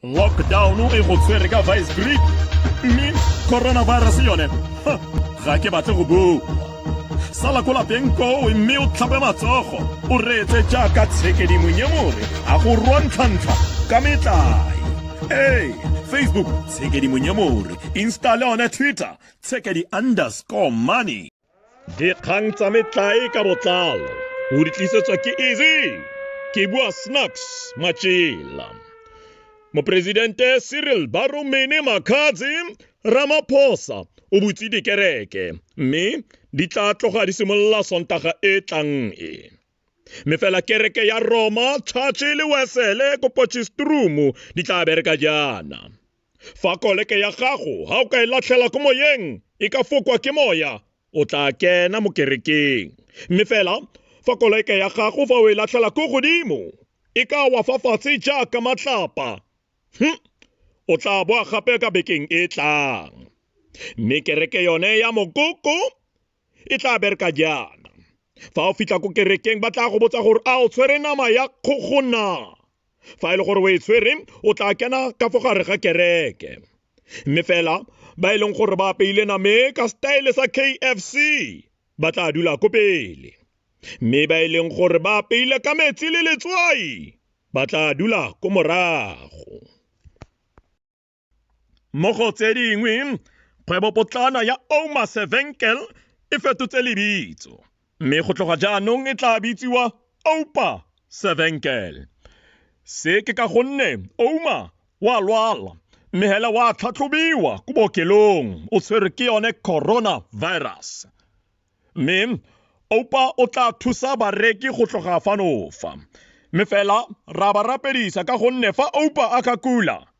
lockdown e go tshwere ka vice grip mme coronavirus yone ga ke batle go bua sala ko lapeng koo mme o tlhape matsogo o reetse jaaka tshekedimonnye more a go rwantlhantlha ka metlae ee facebook tshekedimonnye more instale one twitter tshekedi underscore money Dikgang tsa metlae ka botlalo o di tlisetswa ke Easy ke bua Snacks Matšela. Moporesidente Cyril Baromene Makhatsi Ramaphosa o butse dikereke mme di tla tloga di simolola Sontaga e tlang e. Mme fela kereke ya Roma, Church le Wesele ko Potchefstroom di tla bereka jaana. fa koleke ya gago ga o ka e latlhela ko moyeng e ka fokwa ke moya o tla kena mo kerekeng mme fela fa koleke ya gago fa o e latlhela ko godimo e ka wa fa fatshe jaaka matlapa hm o tla boa gape ka bekeng e tlang mme kereke yone ya mokoko e tla bereka jaana fa o fitlha ko kerekeng ba tla go botsa gore a o tshwere nama ya kgogo na fa e le gore o e tshwere o tla kena ka fo gare ga kereke mme fela ba e leng gore ba apeile name ka style sa kfc ba tla dula ko pele mme ba e leng gore ba apeile ka metsi le letswai ba tla dula ko morago mo go tse dingwe kgwebopotlana ya Oma Sevenkel e fetotse lebitso mme go tloga jaanong e tla bitsiwa Oupa Sevenkel. Se ke ka gonne Ouma wa lwala mme hela wa tlhatlhobiwa ko bookelong o tshwerwe ke yone coronavirus mme Oupa o tla thusa bareki go tloga fanofa mme fela ra ba rapedisa ka gonne fa Oupa a ka kula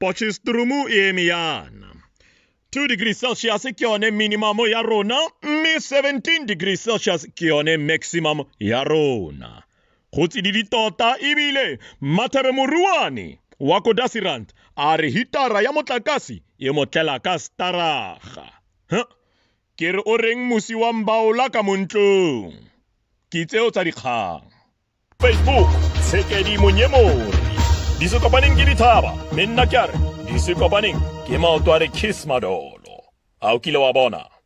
Potchefstroom e eme yana 2 degree celsius ke yone minimum ya rona mme 17 degree celsius ke yone maximum ya rona go tsididi tota ebile mathabe moruane wa ko dasirant a re hitara ya motlakase e motlela ka staraga huh? ke re o reng mosi wa mbaola ka montlong ke tseo tsa dikgang Facebook, Tshekedi Monyemori. Di se kopaneng ke dithaba, mme nna ke a re, di se kopaneng ke maoto a re kiss madolo. A o kile wa bona?